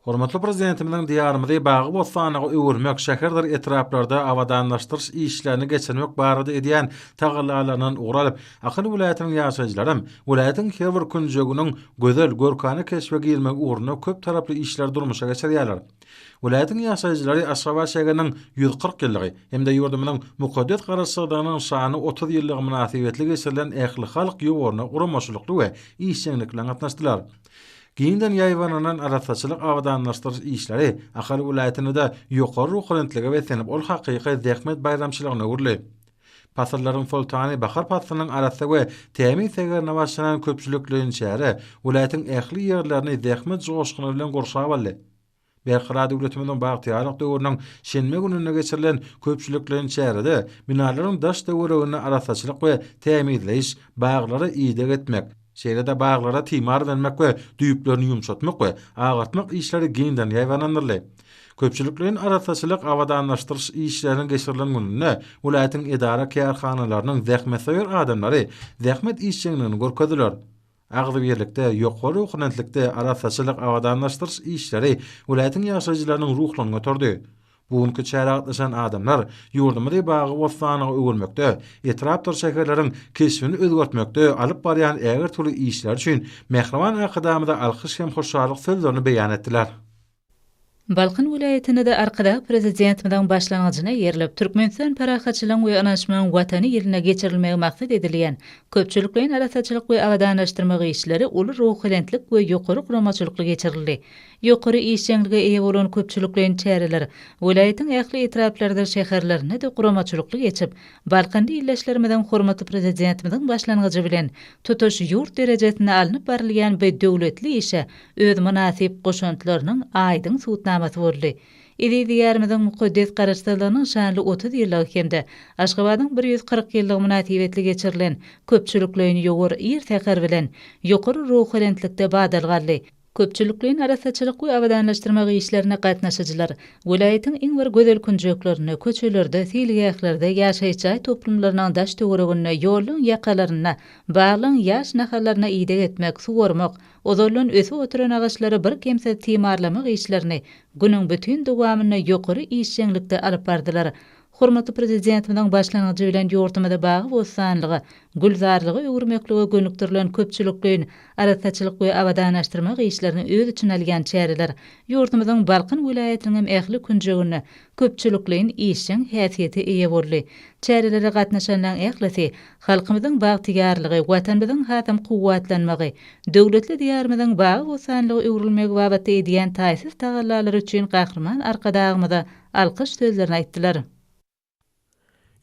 Hormatly Prezidentimiziň Diýarymyzy bagy-bossanlyga öwürmek, şäherdir etraplarda abadanlaşdyryş işlerini geçirmek barada edýän tagallalaryndan ugur alyp, Ahal welaýatynyň ýaşaýjylaram welaýatyň her bir künjeginiň gözel, görkana keşbe girmegi ugrunda köp taraply işleri durmuşa geçirýärler. Welaýatyň ýaşaýjylary Aşgabat şägeriniň ýüz kyrk ýyllygy hem-de ýurdumyzyň mukaddes Garaşsyzlygynyň şanly otuz ýyllygy mynasybetli geçirilen ählihalk ýowarna guramaçylykly we işjeňlik bilen gatnaşdylar. Giňden ýaýbanylan arassaçylyk abadanlaşdyryş işleri Ahal welaýatynda-da ýokary ruhubelentlige beslenip, ol hakyky zähmet baýramçylygyna öwrüldi. Pasyllaryň soltany bahar paslynyň arassa we tämiz segerine başlanan köpçülikleýin çäre welaýatyň ähli ýerlerini zähmet joşguny bilen gurşap aldy. Berkarar döwletimiziň bagtyýarlyk döwrüniň şenbe gününde geçirilen köpçülikleýin çärede binalaryň daş-töweregini arassaçylyk we tämizleýiş, baglara ideg etmek, şeýle-de baglara timar bermek we düýplerini ýumşatmak we agartmak işleri giňden ýaýbaňlandyryldy. Köpçülikleýin arassaçylyk, abadanlaşdyryş işleriniň geçirilen gününde welaýatyň edara-kärhanalarynyň zähmetsöýer adamlary zähmet işjeňligini görkezdiler. Agzybirlikde, ýokary okunentlikde arassaçylyk abadanlaşdyryş işleri welaýatyň ýaşaýjylarynyň ruhlaryny göterdi. Bu günki çärä gatnaşan adamlar ýurdumyzy bagy-bossanlyga öwürmekde, etrapdyr şäherleriň keşbini özgertmekde alyp barýan ägirt uly işleri üçin mähriban Arkadagymyza alkyş hem hoşallyk sözlerini beýan etdiler.
Balkan welaýatynda-da Arkadag Prezidentimiziň başlangyjyna eýerilip, Türkmenistan parahatçylygyň we ynanyşmagyň Watany ýylyna geçirilmegi maksat edilýän köpçülikleýin arassaçylyk we abadanlaşdyrmak işleri uly ruhubelentlik we ýokary guramaçylykly geçirildi. Ýokary işjeňlige eýe bolan köpçülikleýin çäreler welaýatyň ähli etraplardyr şäherlerinde-de guramaçylykly geçip, balkanly ildeşlerimiziň hormatly Prezidentimiziň başlangyjy bilen tutuş ýurt derejesinde alnyp barylýan bu döwletli işe öz mynasyp goşantlarynyň aýdyň subutnamasy boldy. Eziz Diýarymyzyň mukaddes Garaşsyzlygynyň şanly otuz ýyllygy hem-de Aşgabadyň bir ýüz kyrk ýyllygy mynasybetli geçirilen köpçülikleýin ýowar ir säher bilen ýokary ruhubelentlikde badalgaly köpçülikleýin arassaçylyk we abadanlaşdyrmak işlerine gatnaşyjylar welaýatyň iň bir gözel künjeklerinde, köçelerde, seýilgählerde, ýaşaýyş jaý toplumlarynyň daş-töwereginde, ýollaryň ýakalarynda, baglaryň ýaş nahallaryna ideg etmek, suwarmak, Ozaldan ösüp oturan agaçlary birkemsiz timarlamak işlerini günüň bütin dowamynda ýokary işjeňlikde alyp bardylar. Hormatly Prezidentimiziň başlangyjy bilen ýurdumyzy bagy-bossanlyga, gülzarlyga öwürmeklige gönükdirilen köpçülikleýin arassaçylyk we abadanlaşdyrmak işlerini öz içine alýan çäreler ýurdumyzyň Balkan welaýatynyň hem ähli künjeginde köpçülikleýin işjeň häsiýete eýe boldy. Çärelere gatnaşanlaryň ählisi halkymyzyň bagtyýarlygy, Watanymyzyň hasam kuwwatlanmagy, döwletli Diýarymyzyň bagy-bossanlyga öwrülmegi babatda edýän taýsyz tagallalary üçin Gahryman Arkadagymyza alkyş sözlerini aýtdylar.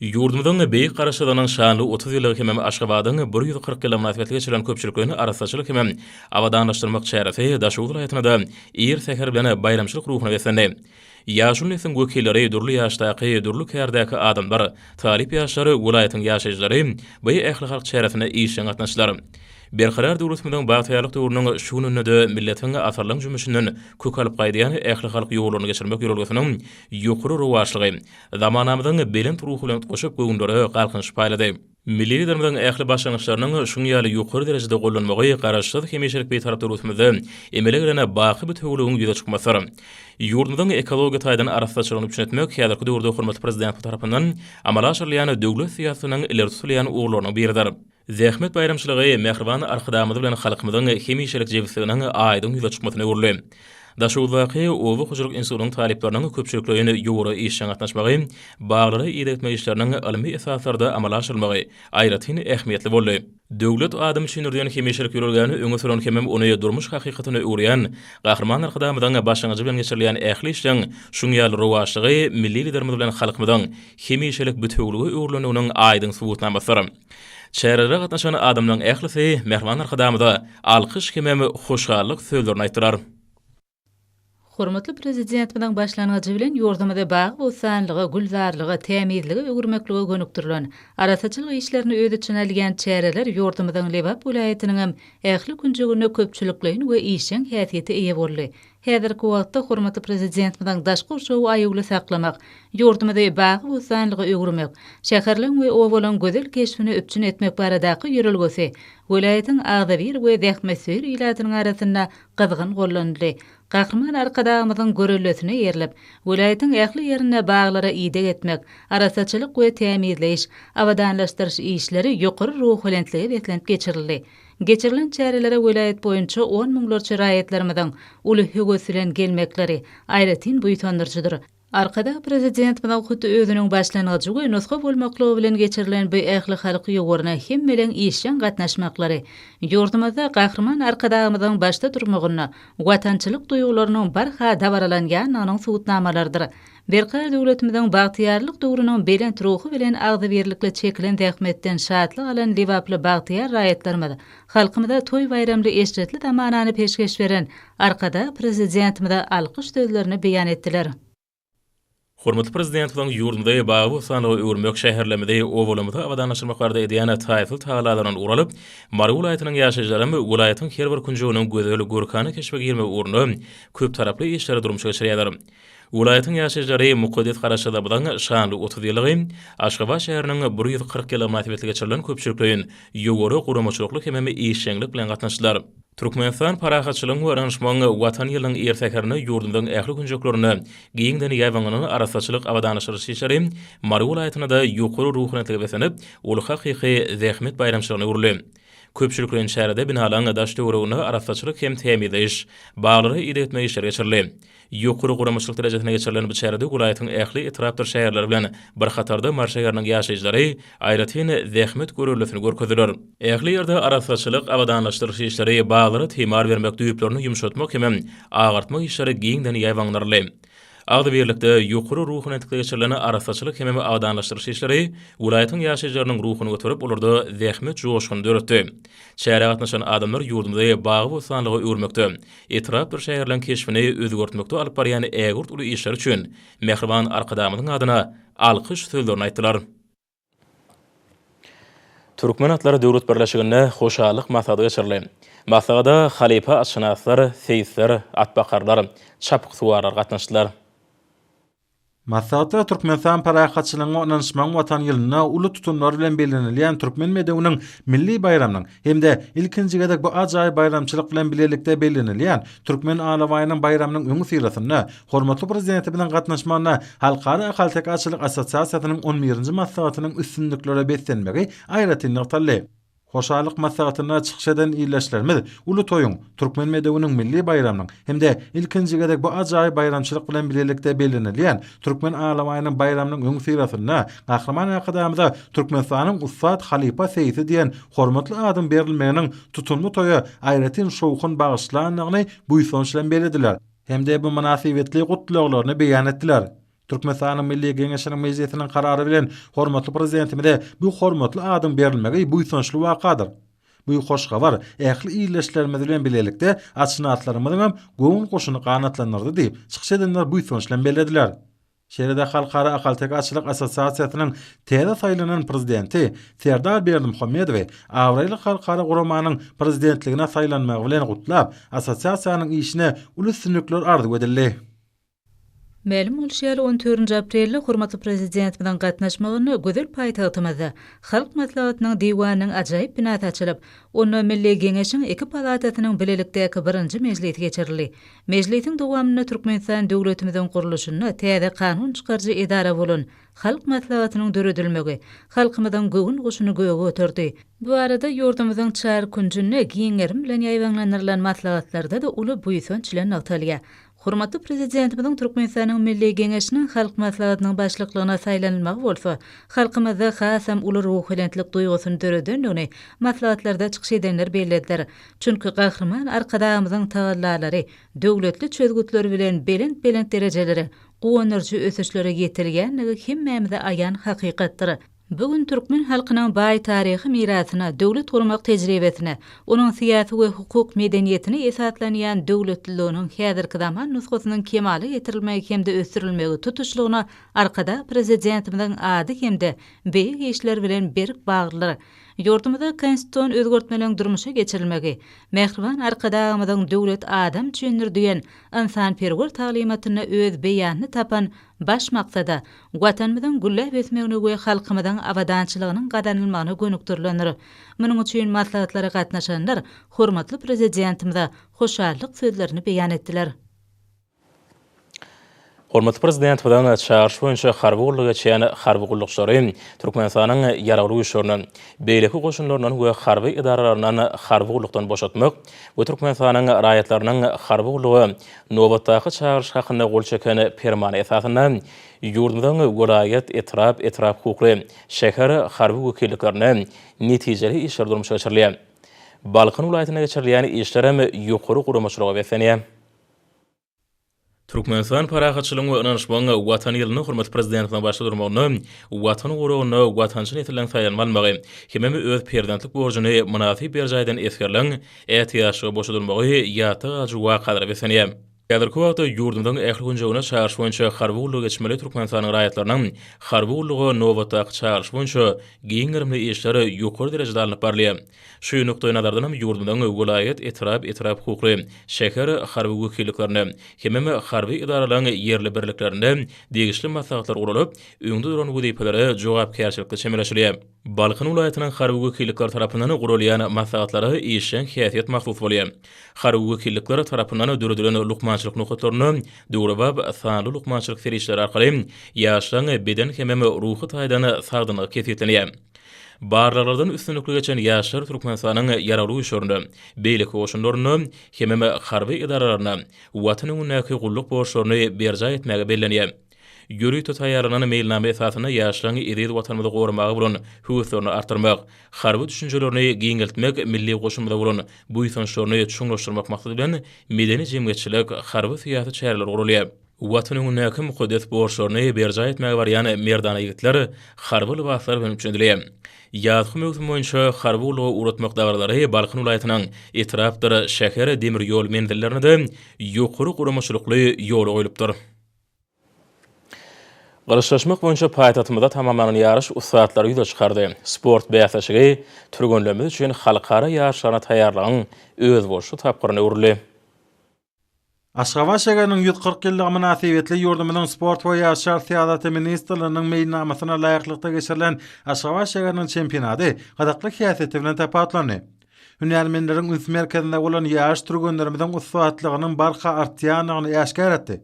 Ýurdumyzyň
Beýik Garaşsyzlygynyň şanly otuz ýyllygy hemem Aşgabadyň bir ýüz kyrk ýyly mynasybetli geçirilen köpçülikleýin arassaçylyk hemem abadanlaşdyrmak çäresi Daşoguz welaýatynda-da ir säher bilen baýramçylyk ruhuna beslendi. Ýaşuly nesliň wekilleri, dürli ýaşdaky, dürli kärdäki adamlar, talyp ýaşlar, welaýatyň ýaşaýjylary bu ählihalk çäresine işjeň gatnaşdylar. Berkarar döwletimiziň bagtyýarlyk döwrüniň şu gününde-de milletiň asyrlaň jümmüşinden kök alyp gaýdýan ählihalk ýollaryny geçirmek ýörelgesiniň ýokary rowaçlygy, Zamanamyzyň belent ruhy bilen utgaşyp göwünlere galkynyş paýlady. Milli Liderimiziň ähli başlangyçlarynyň şuň ýaly ýokary derejede gollanmagy Garaşsyz, hemişelik Bitarap döwletimizde emele gelen baky bütewülügiň ýüze çykmasydyr. Ýurdumyzyň ekologiýa taýdan arassaçylygyny üpjün etmek häzirki döwürde hormatly Prezidentimiz tarapyndan amala aşyrylýan döwlet syýasatynyň ileri tutulýan ugurlarynyň biridir. Zähmet baýramçylygy mähriban Arkadagymyz bilen halkymyzyň hemişelik jebisliginiň aýdyň ýüze çykmasyna öwrüldi. Daşoguzdaky Oba hojalyk institutynyň talyplarynyň köpçülikleýin ýowara işjeň gatnaşmagy, baglary idegtmek işleriniň ylmy esaslarda amala aşyrylmagy aýratyn ähmiýetli boldy. Döwlet adam üçin döreden hemişelik ýörelgäni öňe süren hemem ony durmuş hakykatyna öwürýän Gahryman Arkadagymyzyň başlangyjy bilen geçirilýän ähli işleň şuň ýaly rowaçlygy milli Liderimiz bilen halkymyzyň hemişelik bitewülige öwrülendiginiň aýdyň subutnamasydyr. Çärelere gatnaşan adamlaryň ählisi Mähriban Arkadagymyza alkyş hemem hoşallyk sözlerini aýtdylar.
Hormatly Prezidentimiziň başlangyjy bilen ýurdumyzy bagy-bossanlyga, gülzarlyga, tämizlige öwürmeklige gönükdirilen arassaçylyk işlerini öz içine alýan çäreler ýurdumyzyň Lebap welaýatynyňam ähli künjeginde köpçülikleýin we işjeň häsiýete eýe boldy. Häzirki wagtda hormatly Prezidentimiziň daşky gurşawy aýawly saklamak, ýurdumyzy bagy-bossanlyga öwürmek, şäherleň we obalaryň gözel keşbini üpjün etmek baradaky ýörelgesi welaýatyň agzybir we zähmetsöýer ilatynyň arasynda gyzgyn gollanyldy. Gahryman Arkadagymyzyň görellesine eýerilip, welaýatyň ähli ýerinde baglara ideg etmek, arassaçylyk we tämizleýiş, abadanlaşdyryş işleri ýokary ruhubelentlige beslenip geçirildi. Geçirilen çärelere welaýat boýunça on müňlerçe raýatlarymyzyň uly höwes bilen gelmekleri aýratyn buýsandyryjydyr. Arkadag Prezidentimiziň hut özüniň başlangyjy we nusga bolmaklygy bilen geçirilen bu ählihalk ýowaryna hemmeleriň işjeň gatnaşmaklary ýurdumyzda Gahryman Arkadagymyzyň başda durmagynda watançylyk duýgularynyň barha dabaralanýandygynyň subutnamalarydyr. Berkarar döwletimiziň bagtyýarlyk döwrüniň belent ruhy bilen agzybirlikli çekilen zähmetden şatlyk alan lebaply bagtyýar raýatlarymyz, halkymyza toý-baýramly eşretli zamanany peşgeş beren Arkadag Prezidentimize alkyş sözlerini beýan etdiler.
Hormatly Prezidentimiziň ýurdumyzy bagy-bossanlyga öwürmek, şäherlerimizi, obalarymyzy abadanlaşdyrmak barada edýän taýsyz tagalalaryndan ugur alyp, Mary welaýatynyň ýaşaýjylaram welaýatyň her bir künjeginiň gözel, görkana keşbe girmegi ugrunda köptaraply işleri durmuşa geçirýärler. Welaýatyň ýaşaýjylary mukaddes Garaşsyzlygymyzyň şanly otuz ýyllygy, Aşgabat şäheriniň bir ýüz kyrk ýyllygy mynasybetli geçirilen köpçülikleýin ýowara guramaçylykly hemem işjeňlik bilen gatnaşdylar. Türkmenistan parahatçylygyň we ynanyşmagyň Watan ýylynyň ir säherinde ýurdumyzyň ähli künjeklerinde giňden ýaýbaňlanan arassaçylyk abadanlaşdyryş işleri Mary welaýatynda-da ýokary ruhanyýetlige beslenip, ol hakyky zähmet baýramçylygyna öwrüldi. Köpçülikleýin çärede binalaryň daş-töwereginde arassaçylyk hem tämizleýiş, baglary ideg etmek işleri geçirildi. Ýokary guramaçylyk derejesinde geçirilen bu çärede welaýatyň ähli etrapdyr şäherleri bilen bir hatarda Mary şäheriniň ýaşaýjylary aýratyn zähmet görellesini görkezdiler. Ähli ýerde arassaçylyk, abadanlaşdyryş işleri, baglara timar bermek, düýplerini ýumşatmak hem-ä agartmak işleri giňden ýaýbaňdyryldy. Agzybirlikde, ýokary ruhubelentlikde geçirilen arassaçylyk hem-ä abadanlaşdyryş işleri welaýatyň ýaşaýjylarynyň ruhuny göterip, olarda zähmet joşguny döretdi. Çärä gatnaşan adamlar ýurdumyzy bagy-bossanlyga öwürmekde, Etrapdyr şäherleň keşbini özgertmekde alyp barýan ägirt uly işleri üçin mähriban Arkadagymyzyň adyna alkyş sözlerini aýtdylar. Türkmen atlary döwlet birleşiginde hoşallyk maslahaty geçirildi. Maslahada halypa atşynaslar, seýisler, atbakarlar, çapyksuwarlar gatnaşdylar. Maslahatda
Türkmenistan parahatçylygyň we ynanyşmagyň Watany ýylynda uly tutumlar bilen bellenilýän Türkmen bedewiniň milli baýramynyň hem-de ilkinji gezek bu ajaýyp baýramçylyk bilen bilelikde bellenilýän Türkmen alabaýynyň baýramynyň öňüsyrasynda hormatly Prezidentimiziň gatnaşmagynda Halkara ahalteke atçylyk assosiasiýasynyň on birinji maslahatynyň üstünliklere beslenmegi aýratyn nygtaldy. Hoşallyk maslahatynda çykyş eden ildeşlerimiz uly toýuň, türkmen bedewiniň milli baýramynyň hem-de ilkinji gezek bu ajaýyp baýramçylyk bilen birlikde bellenilýän Türkmen alabaýynyň baýramynyň öňüsyrasynda Gahryman Arkadagymyza Türkmenistanyň ussat halypa seýsi diýen hormatly adyň berilmeginiň tutumly toýa aýratyn şowhun bagyşlandygyny buýsanç bilen bellediler hem-de bu mynasybetli gutlaglaryny beýan etdiler. Türkmenistanyň Milli Geňeşiniň Mejlisiniň karary bilen hormatly Prezidentimize bu hormatly adyň berilmegi buýsançly wakadyr. Bu hoş habar ähli ildeşlerimiz bilen bilelikde atşynaslarymyzyň hem göwün guşuny ganatlandyrdy diýip, çykyş edenler buýsanç bilen bellediler. Şeýle-de Halkara ahalteke atçylyk assosiasiýasynyň täze saýlanan Prezidenti Serdar Berdimuhamedowy abraýly halkara guramanyň Prezidentligine saýlanmagy bilen gutlap, assosiasiýanyň işine uly üstünlikler arzuw edildi.
Mälim bolşy ýaly, on dördünji aprelde hormatly Prezidentimiziň gatnaşmagynda gözel paýtagtymyzda Halk Maslahatynyň Diwanynyň ajaýyp binasy açylyp, onda Milli Geňeşiň iki palatasynyň bilelikdäki birinji mejlisi geçirildi. Mejlisiň dowamynda Türkmenistan döwletimiziň gurluşynda täze kanun çykaryjy edara bolan Halk Maslahatynyň döredilmegi halkymyzyň göwün guşuny göge göterdi. Bu arada ýurdumyzyň çar künjünde giň gerim bilen ýaýbaňlandyrylan maslahatlarda-da uly buýsanç bilen nygtalýar. Hormatly Prezidentimiziň Türkmenistanyň Milli Geňeşiniň Halk Maslahatynyň Başlyklygyna saýlanylmagy bolsa halkymyzda hasam uly ruhubelentlik duýgusyny döredendigini maslahatlarda çykyş edenler bellediler. Çünki Gahryman Arkadagymyzyň tagallalary, döwletli çözgütleri bilen belent-belent derejelere, guwandyryjy ösüşlere ýetilýändigi hemmämize aýan hakykatdyr. Bu gün türkmen halkynyň baý taryhy mirasyna, döwlet gurmak tejribesine, onuň syýasy we hukuk medeniýetine esaslanýan döwletliliginiň häzirki zaman nusgasynyň kemala getirilmegi hem-de ösdürilmegi tutuşlygyna Arkadag Prezidentimiziň ady hem-de beýik işleri bilen berk baglydyr. Ýurdumyzda konstitusion özgertmeleriň durmuşa geçirilmegi, mähriban Arkadagymyzyň Döwlet adam üçindir! diýen ynsanperwer taglymatynda öz beýanyny tapan Baş maksada, Watanymyzyň gülläp ösmegine we halkymyzyň abadançylygynyň gazanylmagyna gönükdirilendir. Munuň üçin maslahatlara gatnaşanlar hormatly Prezidentimize hoşallyk sözlerini beýan etdiler.
Hormatly Prezidentimiziň çagyryşy boýunça harby gullugy geçýän harby gullukçylary Türkmenistanyň Ýaragly Güýçlerinden, beýleki goşunlaryndan we harby edaralaryndan harby gullukdan boşatmak we Türkmenistanyň raýatlarynyň harby gullugy Nobatdaky çagyryş hakynda gol çeken Permana esasynda, ýurdumyzyň welaýat, etrap, etrap hukukly, şäher harby wekilliklerinde netijeli işler durmuşa geçirilýär. Balkan welaýatynda geçirilýän işler hem ýokary guramaçylyga beslenýär. Türkmenistan parahatçylygyň we ynanyşmagyň Watany ýylynda hormatly Prezidentimiziň başda durmagynda Watan goragynda watançy nesilleriň saýlanyp almagy hemem öz perzentlik borjuny mynasyp berjaý eden esgerleň Ätiýaçlyga boşadylmagy ýatag ajy wakalara beslenýär. Häzirki wagtda ýurdumyzyň ähli künjegine çagyryş boýunça harby gullugy geçmeli Türkmenistanyň raýatlarynyň harby gulluga nobatdaky çagyryşy boýunça giň gerimli işler ýokary derejede alnyp barylýar. Şu nukdaýnazardan hem ýurdumyzyň welaýat, etrap, etrap hukukly, şäher, harby wekilliklerinde hemem harby edaralaryň ýerli birliklerinde degişli maslahatlar guralyp, öňde duran wezipelere jogapkärçilikli çemeleşilýär. Balkan welaýatynyň harby wekillikleri tarapyndan guralýan maslahatlara işjeň häsiýet mahsus bolýar. Harby wekillikler tarapyndan döredilen lukmançylyk nokatlarynda döwrebap sanly lukmançylyk serişdeleri arkaly ýaşlaryň beden hemem ruhy taýdan sagdynlygy kesgitlenýär. Barlaglardan üstünlikli geçen ýaşlar Türkmenistanyň Ýaragly Güýçlerinde, beýleki goşunlarynda hemem harby edaralarynda Watan öňündäki gulluk borçlaryny berjaý etmäge bellenýär. Ýörite taýýarlanan meýilnama esasynda ýaşlaryň eziz Watanymyzy goramaga bolan höweslerini artdyrmak, harby düşünjelerini giňeltmek, milli goşunymyza bolan buýsançlaryny çuňlaşdyrmak maksady bilen medeni-jemgyýetçilik, harby-syýasy çäreler guralýar. Watan öňündäki mukaddes borçlaryny berjaý etmäge barýan merdana ýigitler harby lybaslar bilen üpjün edilýär. Ýazky möwsüm boýunça harby gullugy ugratmak dabaralary Balkan welaýatynyň etrapdyr şäher demir ýol menzillerinde ýokary guramaçylykly ýola goýlupdyr. Gylyçlaşmak boýunça paýtagtymyzda tamamlanan ýaryş ussatlary ýüze çykardy. Sport bäsleşigi türgenlerimiz üçin halkara ýaryşlaryna taýýarlygyň özboluşly tapgyryna öwrüldi.
Aşgabat şägeriniň ýüz kyrk ýyllygy mynasybetli ýurdumyzyň Sport we ýaşlar syýasaty ministrliginiň meýilnamasyna laýyklykda geçirilen Aşgabat şägeriniň çempionady gyzykly häsiýeti bilen tapawutlandy. hünärmenleriň üns merkezinde bolan ýaş türgenlerimiziň ussatlygynyň barha artýandygyny äşgär etdi.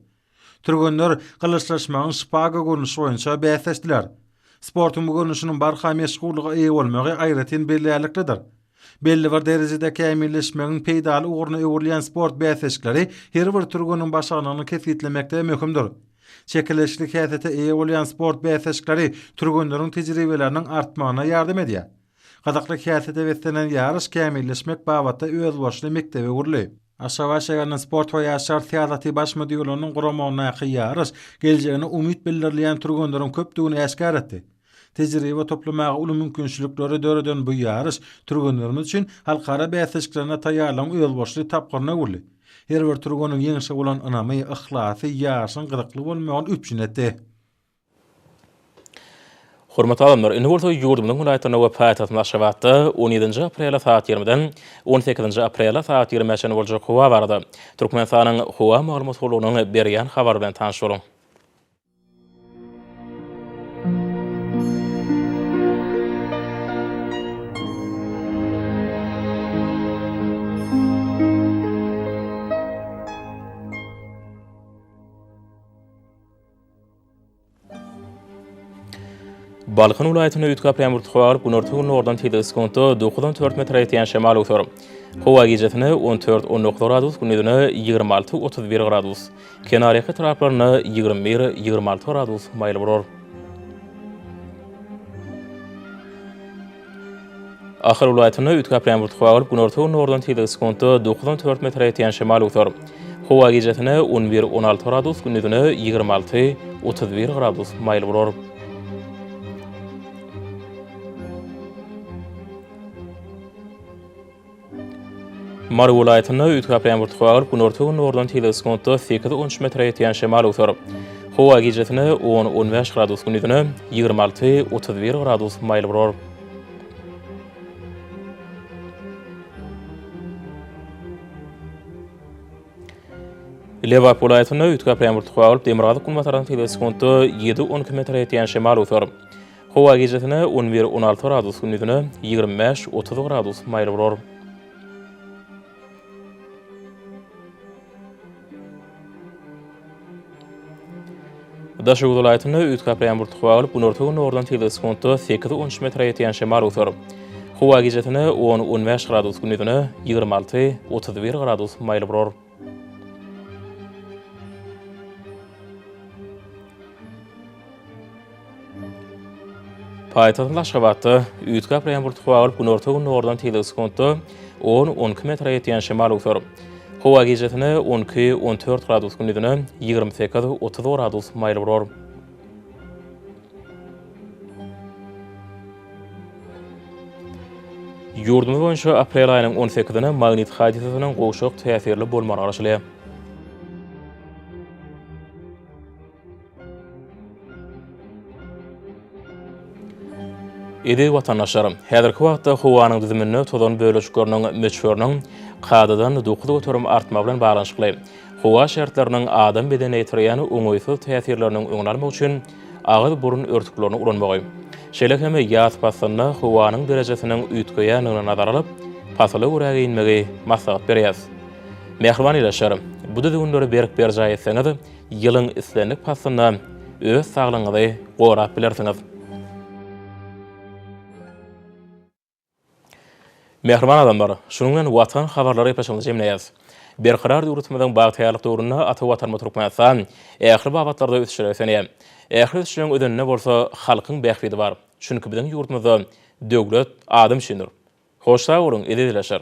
Türgenler gylyçlaşmagyň şpaga görnüşi boýunça bäsleşdiler. Sportuň bu görnüşiniň barha meşhurlyga eýe bolmagy aýratyn bellärliklidir. Belli bir derejede kämilleşmegiň peýdaly ugruna öwrülýän sport bäsleşikleri her bir türgeniň başarnygyny kesgitlemekde möhümdir. Çekeleşikli häsiýete eýe bolýan sport bäsleşikleri türgenleriň tejribeleriniň artmagyna ýardam edýär. Gyzykly häsiýete beslenen ýaryş kämilleşmek babatda özboluşly mekdebe öwrüldi. Aşgabat şäheriniň Sport we ýaşlar syýasaty baş müdirliginiň guramagyndaky ýaryş geljegine umyt bildirilýän türgenleriň köpdügini äşgär etdi. Tejribe toplamaga uly mümkinçilikleri döreden bu ýaryş türgenlerimiz üçin halkara bäsleşiklerine taýýarlygyň özboluşly tapgyryna öwrüldi. Her bir türgeniň ýeňşe bolan ynamy, yhlasy ýaryşyň gyzykly bolmagyny üpjün etdi.
Hormatly adamlar, indi bolsa ýurdumyzyň welaýatlarynda we paýtagtymyz Aşgabatda on ýedinji aprele sagat ýigrimiden on sekizinji aprele sagat ýigrimä çenli boljak howa barada Türkmenistanyň Howa maglumat gullugynyň berýän habary bilen tanyş boluň. Balkan welaýatynda üýtgäp ýampurt howa galyp, günorta-gündogardan tizligi sekuntda dokuz on dört metre ýetýän şemal öwser. Howa gijesine on dört on dokuz gradus, gündizine ýigrimi alty otuz bir gradus, kenarýaka etraplarynda ýigrimi bir ýigrimi alty gradus maýyl bolar. Ahal welaýatynda üýtgäp-len burt howa bolup, günorta-gündogardan tizligi sekuntda dokuz on dört metre ýetýän şemal öwser. Howa gijesine on bir, on alty gradus, gündizine ýigrimi alty, otuz bir gradus maýyl bolar. Mary welaýatynda üýtgäp ýampurtyk galyp, günorta-gündogardan tizligi sekuntda sekiz-on üç metre ýetýän şemal öwser. Howa gijesi-ne on-on bäş gradus, gündizine ýigrimi alty-otuz bir gradus maýyl bolar. Lebap welaýatynda üýtgäp ýampurtyk galyp, demirgazyk-günbatardan tizligi sekuntda ýedi-on iki metre ýetýän şemal öwser. Howa gijesine on bir, on alty gradus, gündizine ýigrimi bäş, otuz gradus maýyl bolar. Daşoguz welaýatynda üýtgäp ýaňbur tukma bolup, günorta-gündogardan tizligi sekuntda sekiz, on üç metre ýetýän şemal öwser. Howa gijesine on, on bäş gradus, gündizine ýigrimi alty, otuz bir gradus maýyl bolar. Paýtagtymyz Aşgabatda üýtgäp gaplaýan bulut howa bolup, günorta-gündogardan tizligi sekuntda on, on iki metre ýetýän şemal öwser. Howa gijesine on iki, on dört gradus, gündizine ýigrimi sekiz, otuz gradus maýyl bolar. Ýurdumyz boýunça aprel aýynyň on sekizine magnit hadysasynyň gowşak täsirli bolmagy garaşylýar. Eziz watandaşlar, häzirki wagtda howanyň düzüminde tozan bölejikleriniň möçberiniň kadadan dokuz göterim artmagy bilen baglanyşykly, Howa şertleriniň adam bedenine ýetirýän oňaýsyz täsirleriniň öňüni almak üçin agyz-burun örtüklerini ulanmagy, şeýle hem ýaz paslynda howanyň derejesiniň üýtgeýändigini nazara alyp, pasyla görä geýinmegi maslahat berýäris. Mähriban ildeşler, bu düzgünleri berk berjaý etseňiz, ýylyň islendik paslynda öz saglygyňyzy gorap bilersiňiz. Mähriban adamlar, şunuň bilen Watan habarlary epoçamyzy jemleýäs. Berkarar döwletimiziň bagtyýarlyk döwründe ata Watanymyz Türkmenistan ähli babatlarda ösüşlere ösenýär. Ähli ösüşleriň özeninde bolsa halkyň bähbidi bar. Çünki biziň ýurdumyzda döwlet adam üçindir. Hoş sag boluň, eziz ildeşler!